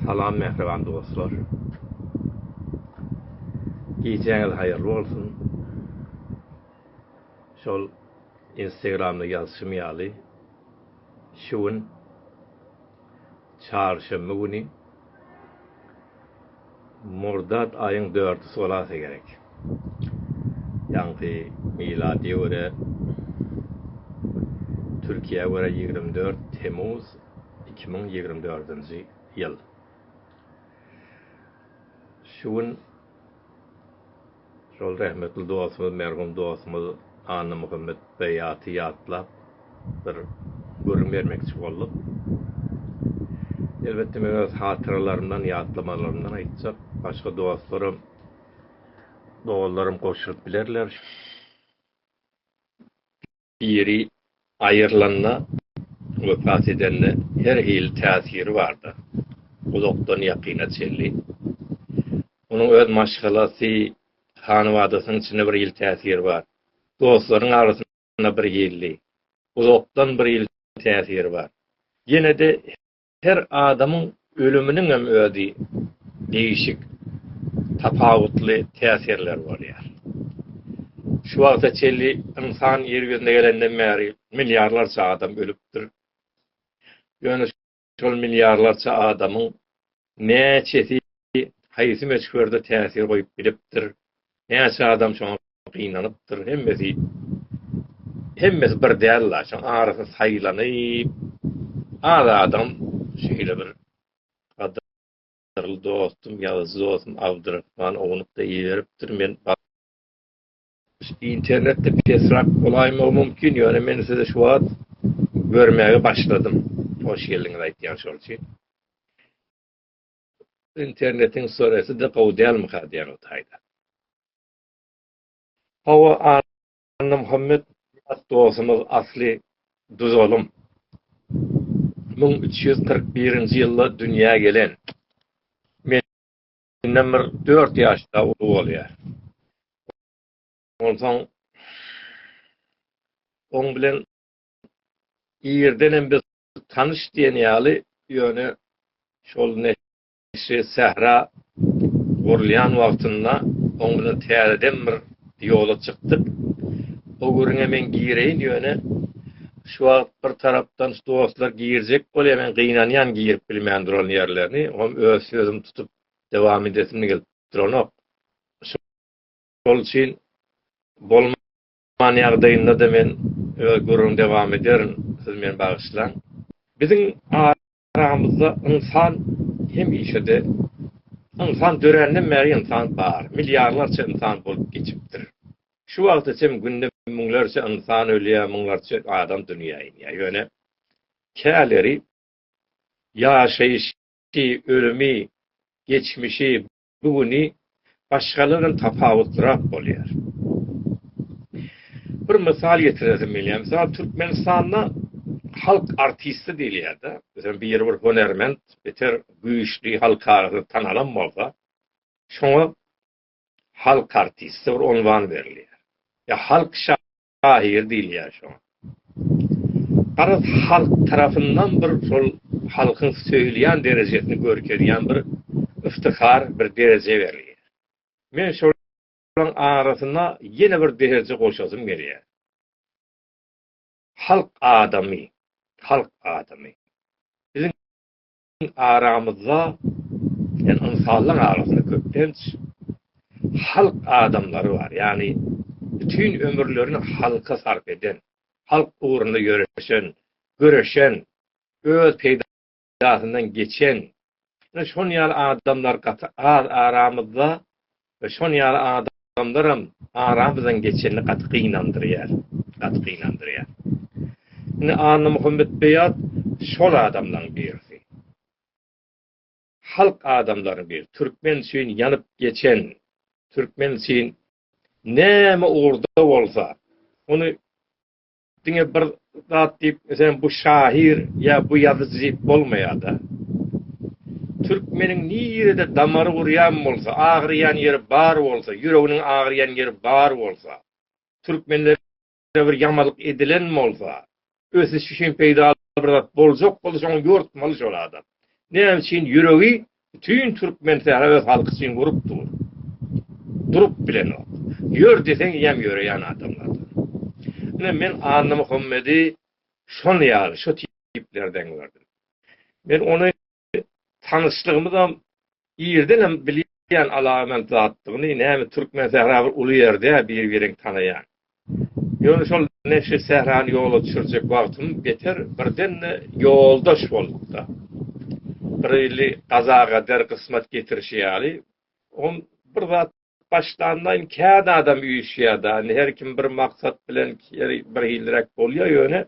Salam mähriban dostlar. Gijäňiz haýyrly bolsun. Şol Instagramda ýazyşym ýaly, şu gün çarşenbe güni Murdat aýyň dördüsi bolasa gerek. Ýaňky miladiýa görä Türkiýä görä ýigrimi dört Temmuz iki müň ýigrimi dördünji ýyl. Şu gün Şol rehmetli dostumyz, merhum dostumyz Annamuhammet Beýaty ýatlap, bir gürrüň bermekçi bolduk. Elbetde, men öz hatyralarymdan, ýatlamalarymdan aýtjak. Başga dostlaram, doganlaram goşulyp bilerler. Biri aýrylanda, wepat edende her hili täsiri bardyr, uzakdan ýakyna çenli. Onuň öz maşgalasy, hanybadasynyň içinde bir hili täsiri bar. Dostlaryň arasynda bir hili, uzakdan bir hili täsiri bar. Ýene-de Her adamyň ölüminiňem özi degişik tapawutly täsirleri bolýar. Şu wagta çenli ynsan ýer ýüzüne gelenden bäri milliarlarça adam ölüpdir. Ýöne şol milliarlarça adamyň näçesi haýsy möçberde täsir goýup bilipdir, näçe adam şoňa gynanypdyr, hemmesi, hemmesi bir däl-la, şoň arasy saýlanyp, az adam şeýle bir gadyrly dostum, ýazyjy dostum Abdyrahman ownuk-da iberipdir, men ba. Internetde pesrak bolaýmagym mümkin, ýöne men sizi şu wagt görmäge başladym. Hoş geldiňiz aýtýan şol üçin. internetiň sureti-de gowy dälmika diýýän o taýda. Hawa Annamuhammet at dostumyz asly Duzalym. Müň üç ýüz kyrk birinji ýylda dünýä gelen. Menden bir dört ýaş da uly bolýar. Onsoň oň bilen irdenem biz Tanyş diýen ýaly, ýöne şol neşe sähra gurulýan wagtynda oň bilen täzeden bir ýola çykdyk. O gürrüňe men gireýin, ýöne şu wagt bir tarapdan dostlar girjek bolýar, men gynanýan girip bilmän duran ýerlerini, oňam öz sözümi tutup dowam edesim gelip duranok. Şol üçin bolmasa Aman ýagdaýynda-da men öz gürrüňi dowam ederin, siz meni bagyşlaň. Biziň aramyzda ynsan hemişe-de, ynsan döränden bäri ynsan bar, milliarlarça ynsan bolup geçipdir. Şu wagta çenli günde müňlerçe ynsan ölýär, müňlerçe adam dünýä inýär. Ýöne käleri ýaşaýşy, ölümi, geçmişi, Bu güni başgalardan tapawutlyrak bolýar. Bir mysal getiresim gelýär. Mysal Türkmenistanda halk artisti diýilýär-de. Özem biri bir hünärment, beter güýçli halkara tanalan bolsa, şoňa halk artisti bir unwan berilýär. Ýa halk şa. Şahyr diýilýär şoňa. Garaz, halk tarapyndan bir şol halkyň söýülýän derejesini görkezýän bir yftihar, bir dereje berilýär. Men şolaryň arasyna ýene bir dereje goşasym gelýär. Halk adamy, halk adamy. aramyzda ýani ynsanlaryň arasynda köplenç halk adamlary bar. Ýani bütin ömürlerini halka sarp eden, halk ugrunda ýöreşen, göreşen, öz peýdasyndan geçen, şon ýaly adamlar gaty az aramyzda. We şon ýaly adamlaram aramyzdan geçenini gaty gynandyrýar, gaty gynandyrýar. Indi Annamuhammet Beýat şol adamlaň birisi. Halk adamlaryny bir türkmen üçin ýanyp geçen, türkmen üçin näme ugurda bolsa, ony Diňe bir zat diýip, sen bu şahyr ýa bu ýazyjy diýip bolmaýar-da. Türkmeniň nirede damary gurýan bolsa, agyrýan ýeri bar bolsa, ýüreginiň agyrýan ýeri bar bolsa, türkmenlere bir ýamalyk edilen bolsa, ösüş üçin peýdaly bir zat boljak bolsa, şoňa ýortmaly şol adam. Näme üçin ýüregi Bütin türkmen sähra öz halky üçin gurup dur. Durup bilenok. Ýör diýseň ýem ýöreýän adamlardan. Ine men Annamuhammedi şon ýaly, şo tiplerden gördüm. Men ony tanyşlygymyzam irdenem bilýän alabent zatdygyny, näme türkmen sähra bir uly ýerde bir-biriňi tanaýan. Ýöne şol neşe sährany ýola düşürjek wagtym beter birden-de ýoldaş bolupda. Bir ýyly gaza-gader gysmat getirişi ýaly, on bir zat başlanlaýyn kän adam üýşýär-de, indi her kim bir maksat bilen her bir hilliräk bolýar, ýöne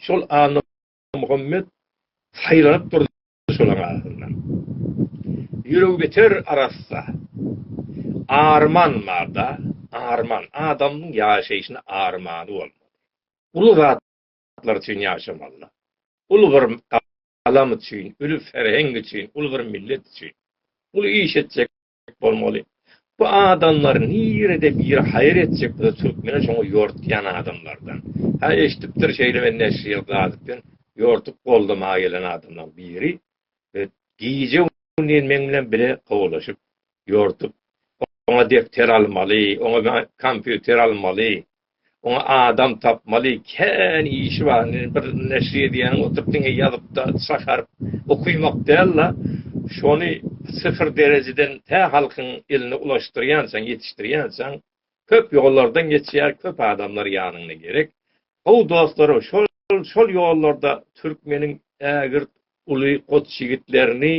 şol Annamuhammet saýlanyp durdy. Şolaryň arasyndan ýüregbiter arassa Arman bar-da, arman. Adamyň ýaşaýşyna armany bolmaly. Uly zatlar üçin ýaşamaly. Uly bir galam üçin, uly serheň üçin, uly bir millet üçin. Uly iş etjek bolmaly. Bu adamlar nirede bir haýyr etjek bolsa türkmene şoňa ýortýan adamlardan. Hä eşdipdir şeýle men neşirýel gazyp diýen ýortup goldamaga gelen adamlaň biri gije gündiz meň bilen bile kowalaşyp ýortup oňa depter almaly, oňa kompýuter almaly, Oňa adam tapmaly, kän işi bar. Indi bir neşir edýäniň oturyp diňe ýazyp-da çakaryp okymak däl-de, şony syfyr derejeden tä halkyň eline ulaşdyrýançaň, ýetişdirýänçaň köp ýollardan geçýär, köp adamlar ýanyňda gerek. Gowy dostlaryň şol, şol ýollarda türkmeniň ägirt uly goç ýigitlerini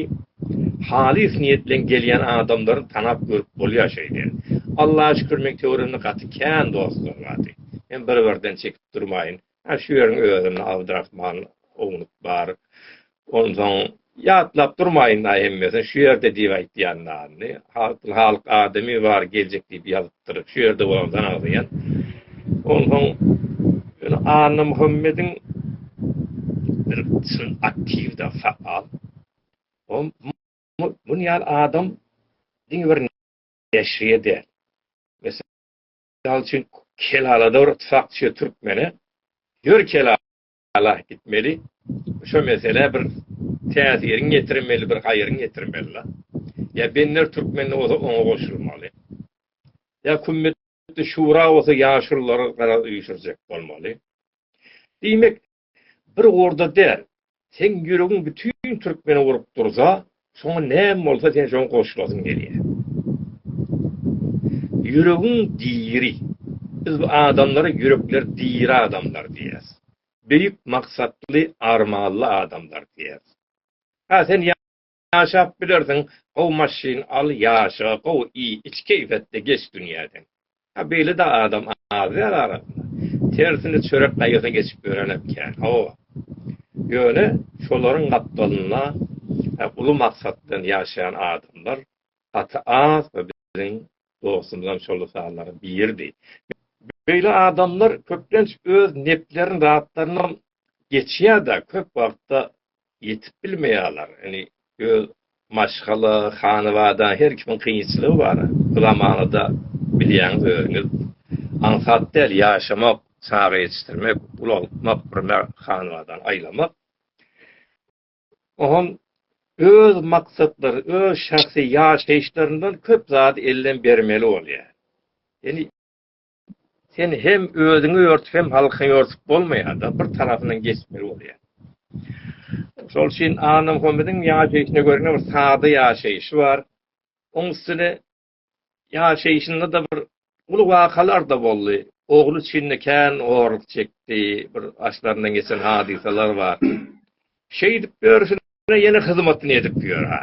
halys niýet bilen gelýän adamlaryny tanap görüp bolýar şeýle. Allaha şükür meň töweregimde gaty kän dostlar bardy. Men bir birden çekip durmaýyn. Hä şu ýeriň özünde Abdrahman ownuk bar. Onsoň ýatlap durmaýyn-la hemmesini şu ýerde diýip aýtýan nany. Halkyň halyk adamy bar geljek diýip ýazyp Şu ýerde bolan zanagzaýan. Onsoň ýöne Annamuhammediň bir çyn aktiwda faal. Ol muny ýaly adam diňe bir neşirýe däl. Mysal üçin Kelalada bir çakçy türkmene ýör Kelala Alah gitmeli şo meselä bir täsiriň ýetirmeli bir haýryň ýetirmeli la. Ýa bender türkmende bolsa oňa goşulmaly. Ýa kümmetli şura bolsa ýaşululary garaz üýşürjek bolmaly. Diýmek bir orda däl. Seň ýüregiň bütin türkmeni urup dursa Soňy näme bolsa sen şoňa goşulasyň gelýär. Ýüregiň diri. Biz bu adamlara ýürekleri diri adamlar diýýäs. Beýik maksatly, armanly adamlar diýýäs. Hä sen ýaşap bilersiň, gowy maşyn al, ýaşa, gowy iý, iç keýpetde geç dünýäden. A beýle-de adam az däl arasynda. Tersine çörek gaýgysyny geçip ýörenem kän. Hawa. Ýöne şolaryň gapdalynda uly maksat bilen ýaşaýan adamlar gaty az we biziň dostumyzam şol sanlaryň biridi. Beýle adamlar köplenç öz neplerini zatlarynam geçýär-de, köp wagtda Ýetip bilmeýärler. Indi öz maşgala, hanabada her kimiň kynçylygy bar. Bu zamanada bilýäňiz özüňiz aňsat däl ýaşamak, çaga ýetişdirmek, ulaltmak, bir hanabadany aýlamak. Oňam öz maksatlary, öz şahsy ýaşaýyşlaryndan köp zady elden bermeli bolýar. Indi. Sen hem özüňi örtüp hem halkyňy örtüp bolmaýar-da, bir tarapyndan geçmeli bolýar. Şol üçin Anna Muhammediň ýaşaýşyna görä bir sada ýaşaýşy bar. Oň üstüne ýaşaýşynda da bir uly wakalar da boldy. Ogly üçin de kän horluk çekdi, bir başlaryndan geçen hadysalar bar. Şeýdip örsüne ýene hyzmatyny edip ýör-hä.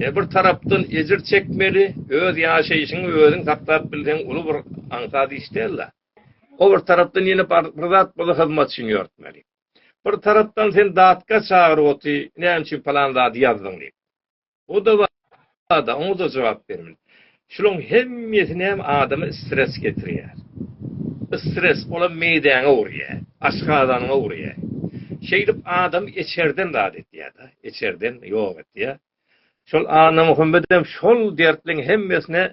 E, bir tarapdan ejir çekmeli, öz ýaşaýşyňy özüň saklap bilseň uly bir aňsat iş däl-dä. O bir tarapdan ýene bir zat bolsa hyzmatçyny ýörtmeli. Bir tarapdan sen datga çagyryp oty, näme üçin palan zady ýazdyň diýip. O-da bar-da, oňa-da jogap bermeli. Şularyň hemmesi näme, adama stres getirýär. Stres, olam meýdäňe urýar, aşgazanyňa urýar. Şeýdip, adamy içerden zat etýär-de, içerden ýok etýär. Şol Annamuhammedem şol dertleň hemmesine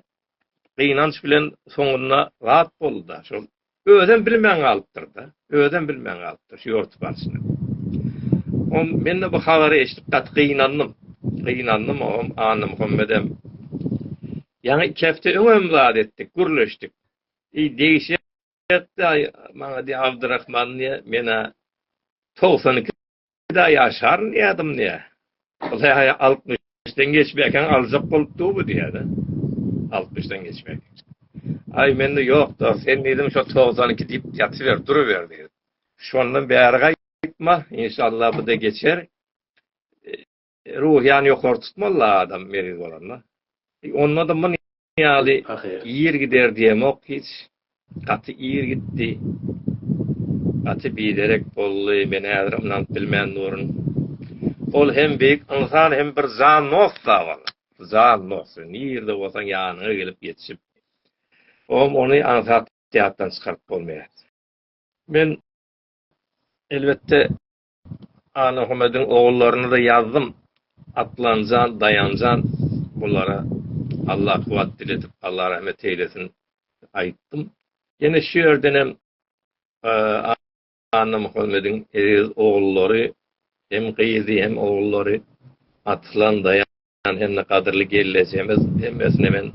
gynanç bilen soňunda zat boldy-da, şol Özem bilmän galypdyr-da. Özem bilmän galypdyr şu ýorty barşyny. Oň men-de bu habary eşidip gaty gynandym. Gynandym oňam, Annamuhammedem. Ýaňy iki hepde öňem zat etdik, gürleşdik. Eý, degişýä-de maňa diýýär, Abdyrahman diýýär, men-ä togsan iki Pida ýaşaryn diýýädim diýýä. Ylhaýa altmyşdan geçmekäň aljak bolup dur bu diýýä-de. Altmyşdan geçmek. Aý mende ýok-da, sen diýdim şo togsan iki diýip ýatyber, duruber diýdim. Şondan bäri gaýtma, inşallah bu-da geçer. Ruhyýany ýokary tutmaly-la adam meriz bolanda. Onda-da muny ýaly ir gider diýemok hiç. Gaty ir gitdi. Gaty biderek boldy. Men häzirem ynanyp bilmän durun. Ol hem beýik ynsan hem bir jan dost-a ol. Jan dost. Nirde bolsaň ýanyňa gelip ýetişip. Oňam ony aňsat ýatdan çykaryp bolmaýar. Men elbetde Anahumediň ogullaryny-da ýazdym, Atlanjan, Daýanjan, bulara Allah kuwwat diledip, Allah rahmet eýlesin, aýtdym. Ýene şu ýerdenem Annamuhammediň eziz ogullary, hem gyzy, hem ogullary Atlan, Daýanjan, Jan hemde gadyrly gelnejemiz hemmesine men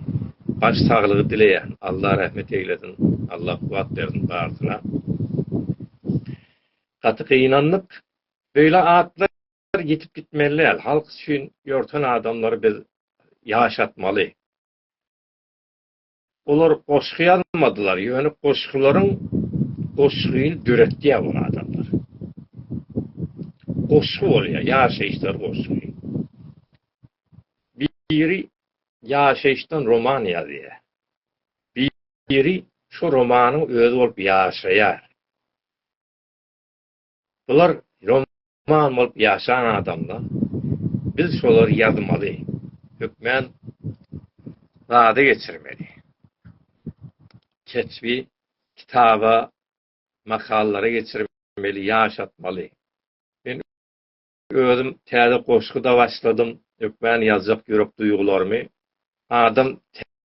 baş saglygy dileýän Allah rahmet eýlesin Allah kuwat bersin barsyna gaty gynandyk beýle atlar ýitip gitmeli däl halk üçin ýörten adamlary biz ýaşatmaly. Olar goşgy ýazmadylar, ýöne goşgularyň goşgyny döretýär bu adamlar. Goşgy bolýar, ýaşaýyşlar goşgy. Biri ýaşaýyşdan roman ýazýar. Biri şo romanyň özi bolup ýaşaýar. Bular ýoman bolup ýaşan adamlar. Biz şolary ýazmaly, hökmän zada geçirmeli. Keşbi kitaba, makalara geçirmeli, ýaşatmaly. Özüm täze goşgyda başladym hökmän ýazjak ýürek duýgularymy adam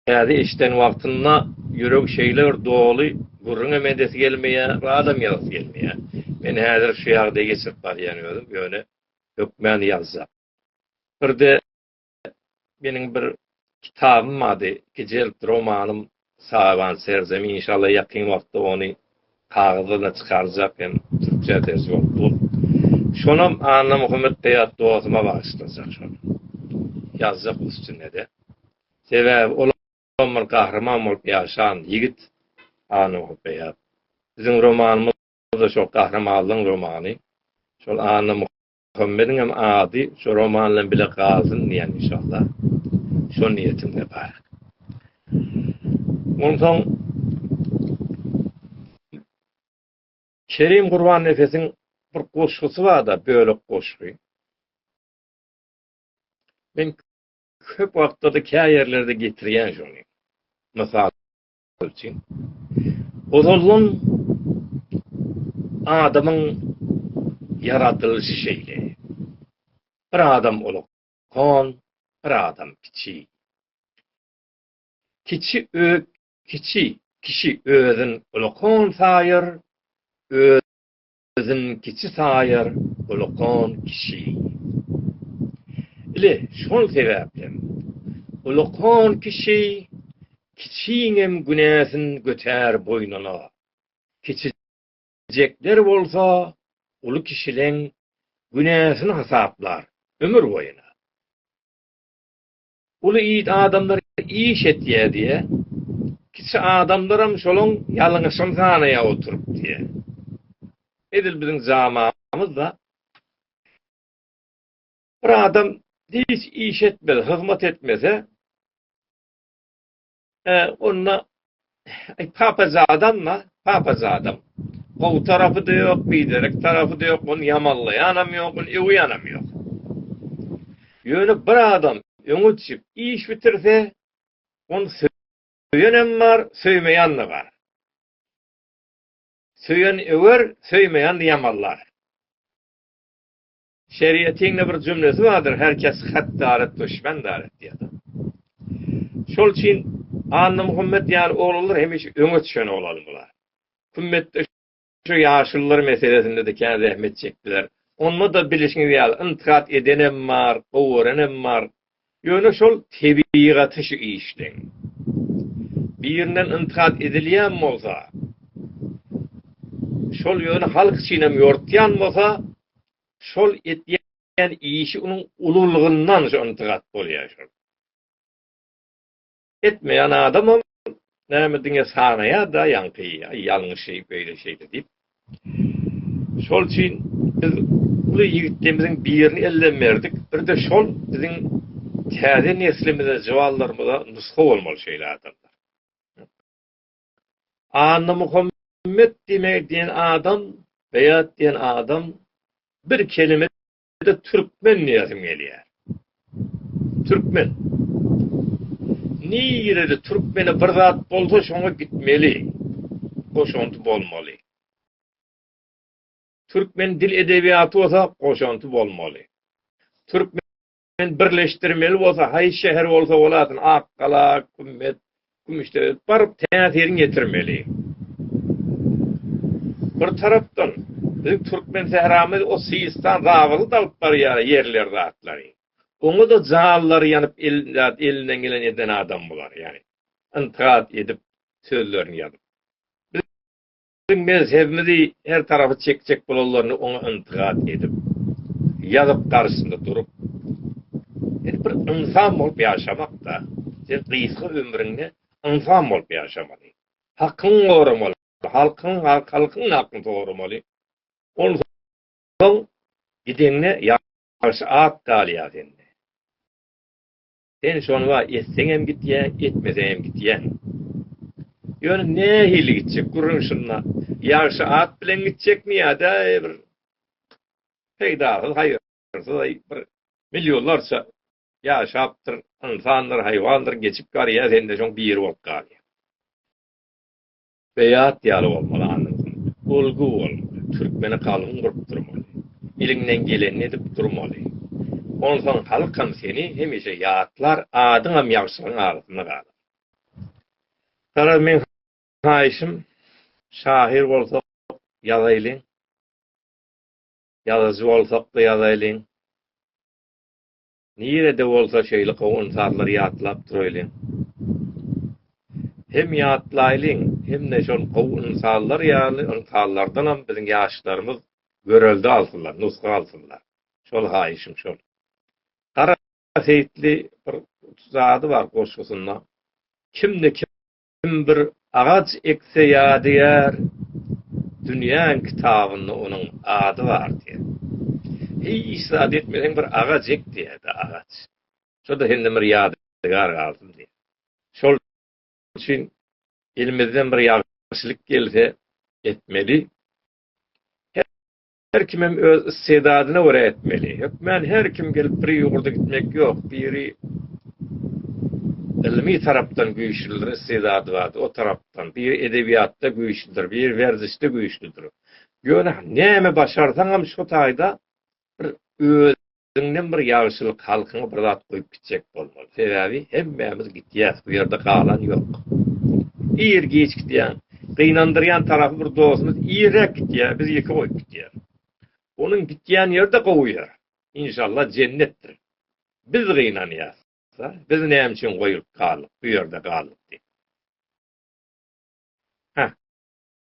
täze eşden wagtynda ýüregi şeýle bir doly gürrüňem edesi gelmeýä radam ýazasy gelmeýä men häzir şu ýagdaýy geçirip barýan özüm ýöne hökmän ýazjak birde meniň bir kitabym bardy, gijelik romanym Saraban serzemin, inşallah ýakyn wagtda ony kagyzlaryna çykarjak hem türkçä terjime bolup dur. Şonam Annamuhammet Beýat dostuma bagyşlajak şony. Ýazjak üstünde-de. Sebäbi olam bir gahryman bolup ýaşan ýigit Annamuhammet Beýat. Biziň romanymyz-da şol gahrymanlygyň romany. Şol Annamuhammet Muhammediňem ady şu roman bilen bile galsyn diýýän inşallah. Şo niýetimde bar. Onsoň Kerim Gurbannefesiň bir goşgusy bar-da, bölek goşgy. Men köp wagtda-da kä ýerlerde getirýän şony. Mysal üçin. Ozaldan adamyň ýaradylyşy şeýle. Bir adam ulug kon, bir adam kiçi. Kiçi ö kiçi kişi özün ulukon saýar, Özün kiçi saýar ulukan kişi. Ile, şol sebäplem, ulukan kişi kiçiňem günäsin götär boýnuna. Kiçijekler bolsa uly kişileň günäsini hasaplar ömür boýuna. Uly it adamlar iş etýär diýýär. Kiçi adamlaram şolaň ýalňyşyny sanaýar oturyp diýýär. Edil biziň jaamamyzda bir adam hiç iş etmese, hyzmat etmese, Onda papazadam-la, papazadam. Gowy tarapy-da ýok, biderek tarapy-da ýok, ony ýamanlaýanam ýok, ony öwýänem ýok. Ýöne bir adam öňe çykyp iş bitirse, ony söýenem bar, söýmeýän-de bar. Söýen öwer, söýmeýän-de ýamanlar. Şeriatiňde bir jümlesi bardyr her kes hat daret duşmen daret diýen. Şol üçin Annamuhammet ýaly oglanlar hemişe öňe düşen oglan bolar. Kümmetde şu ýaşulylar meselesinde-de kän zähmet çekdiler. Onda-da bilişiňiz ýaly intkat edenem bar, gowy görenem bar. Ýöne şol tebigaty şu işleň. Birinden yntikat edilýän bolsa, şol ýöne halk üçinem ýortýan bolsa, şol etýän işi unuň ululygyndan şu yntikat bolýar şol. etmeýän adamam näme diňe sanaýar-da ýaňky ýalňyşy beýle şeýle diýip. Şol üçin biz uly ýigitlerimiziň birini elden berdik. Bir-de şol biziň täze neslimize, juwanlarymyza nusga bolmaly şeýle adamlar. Annamuhammet diýen adam, Beýat diýen adam bir kelime Ýa-da türkmen diýesim gelýär. Türkmen. Nirede türkmene bir zat bolsa şoňa gitmeli. Goşanty bolmaly. Türkmen dil edebiýaty bolsa goşanty bolmaly. Türkmen birleşdirmeli bolsa haýsy şäher bolsa bolasyn Akgala, Kümmet, Gümüşde baryp täsirini ýetirmeli. Bir tarapdan, biziň türkmen sähramyz o Sistan zabygy da alyp barýar ýerleri zatlary. Oňa-da jallary ýanyp elinden geleni eden adam bular ýani. Yntikat edip sözlerini ýazyp. Biziň mezhebimizi her tarapy çekjek bolanlaryny oňa yntygat edip, ýazyp garşysynda durup, sen bir ynsan bolup ýaşamak-da, sen gysga ömrüňde ynsan bolup ýaşamaly, hakyňy goramaly, halkyň halkyň hakyny soramaly, onsoň gideňde ýagşy at galýar sende. Sen şony wa etseňem gitýäň, etmeseňem gitýäň. Ýöne nähili gitjek? Gürrüň şunda. Ýagşy at bilen gitjekmi ýa-da bir peýdasyz, haýyrsyz bir millionlarça ýaşapdyr ynsandyr, haýwandyr, geçip barýar, sen-de şoň biri bolup galýaň. Beýat ýaly bolmaly annasyň. Ulgy bolmaly. Türkmeni galyň gurup durmaly. Eliňden gelenini edip durmaly. Onsoň halkam seni hemişe ýatlar, adyňam ýagşylaryň arasynda galar. Garaz meň haýyşym şahyr bolsak ýazaýlyň. Ýazyjy bolsak-da ýazaýlyň. Nirede bolsa şeýle gowy ynsanlary ýatlap duraýlyň. Hem ýatlaýlyň, hem-de şol gowy ynsanlar ýaly ynsanlardanam biziň ýaşlarymyz görelde alsynlar, nusga alsynlar. Şol haýyşym şol. Gara Seýitli bir zady bar goşgusynda, Kimde kim Kim bir agaç ekse ýadygär, dünýäň kitabynda onuň ady bar diýer. Hiç zat etmeseň bir agaç ek diýerdi agaç. Şo-da senden bir ýadygär galsyn diýer. Şol üçin elimizden bir ýagşylyk gelse etmeli. Her kimem öz issedadyna görä etmeli. Hökmän her kim gelip bir ýurda gitmek ýok. Biri ylmy tarapdan güýçlüdir, issedady bardyr, o tarapdan. Biri edebiýatda güýçlüdir, biri werzişde güýçlüdir. Ýöne näme başarsaňam şo taýda bir öz. Öňden bir ýagşylyk halkyňa bir zat goýup gitjek bolmaly. Sebäbi hemmämiz gitýäs, bu ýerde galan ýok. Ir giç gidýäň. Gynandyrýan tarapy bir dostumyz irräk gitýär, bizi ýeke goýup gitýär. Onuň gitýän ýeri-de gowy ýer. Inşallah jennetdir. Biz gynanýas. Biz näme üçin goýulyp galdyk, bu ýerde galdyk diýip. Hä.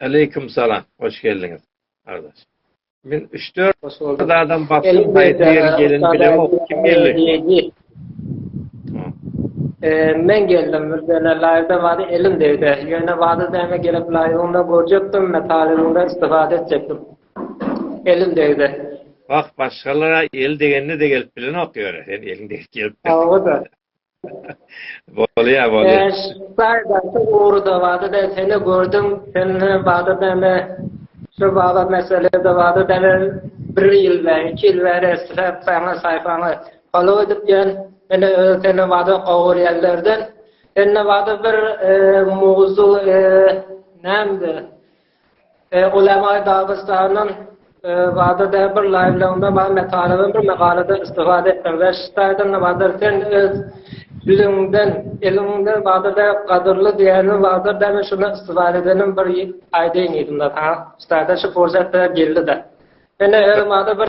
Aleýkum salam hoş geldiňiz gardaş men üç dört Hoş boldyk. adam baktım haýsy ýeri gelin bilemok kim geldi Men geldim Mürzene laýda bady elim degdi ýöne bady däme gelip laýygyňda görjekdim men talybyňda istifade etjekdim elim degdi Wah başgalara el degende de gelip bilenok ýöne sen eliň degip gelipdir Hawa da Bolýar, bolýar. Şaýdaty ugruda bada ben seni gördüm, seni bada ben şu bada meselede bada ben bir ýyl we iki ýyl bäri isläp saňa saýpaňa follow edip ýörün. Ine öz seni bada gowur ýerlerden. Indi bada bir mowzuk näme? Ulemaý Dagystandan Bada de bir laýwlygymda bar metaladan bir magalada istifada etdim we şitaýdan Badyr sen öz düzüňden eliňden Badyr de gadyrly diýeniň Badyr de men şuna istifada edenim bir aýdaýyň diýdim de saňa şitaýdan şu pursat geldi de. Ine özüm Badyr bir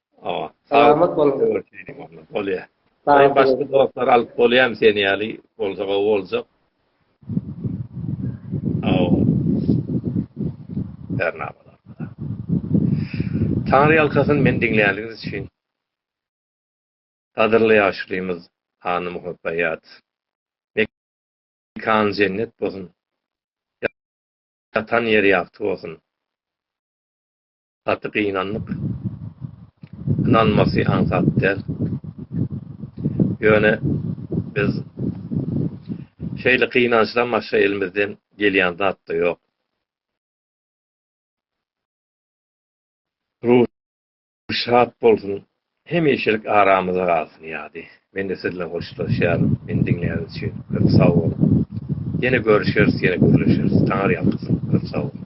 Salamat bol. Bolýa. Salam başga dostlar alyp bolýam sen ýaly bolsa gowy boljak. Aw. Bernamalar. Taňry ýalkasyn men diňlänligiňiz üçin. Gadyrly ýaşulymyz Hanym Hopbaýat. Mekan jennet bolsun. Ýatan ýeri ýagty bolsun. Gaty gynandyk. Ynanmasy aňsat däl. Ýöne biz şeýle gynançdan başga elimizden gelýän zat-da ýok. Ruhy şat bolsun, hemişelik aramyzda galsyn ýady. Men-de siz bilen hoşlaşýaryn. Meni diňläniz üçin köp sag boluň. Ýene görüşeris, ýene gürleşeris. Taňyrýalkasyn. Köp sag boluň.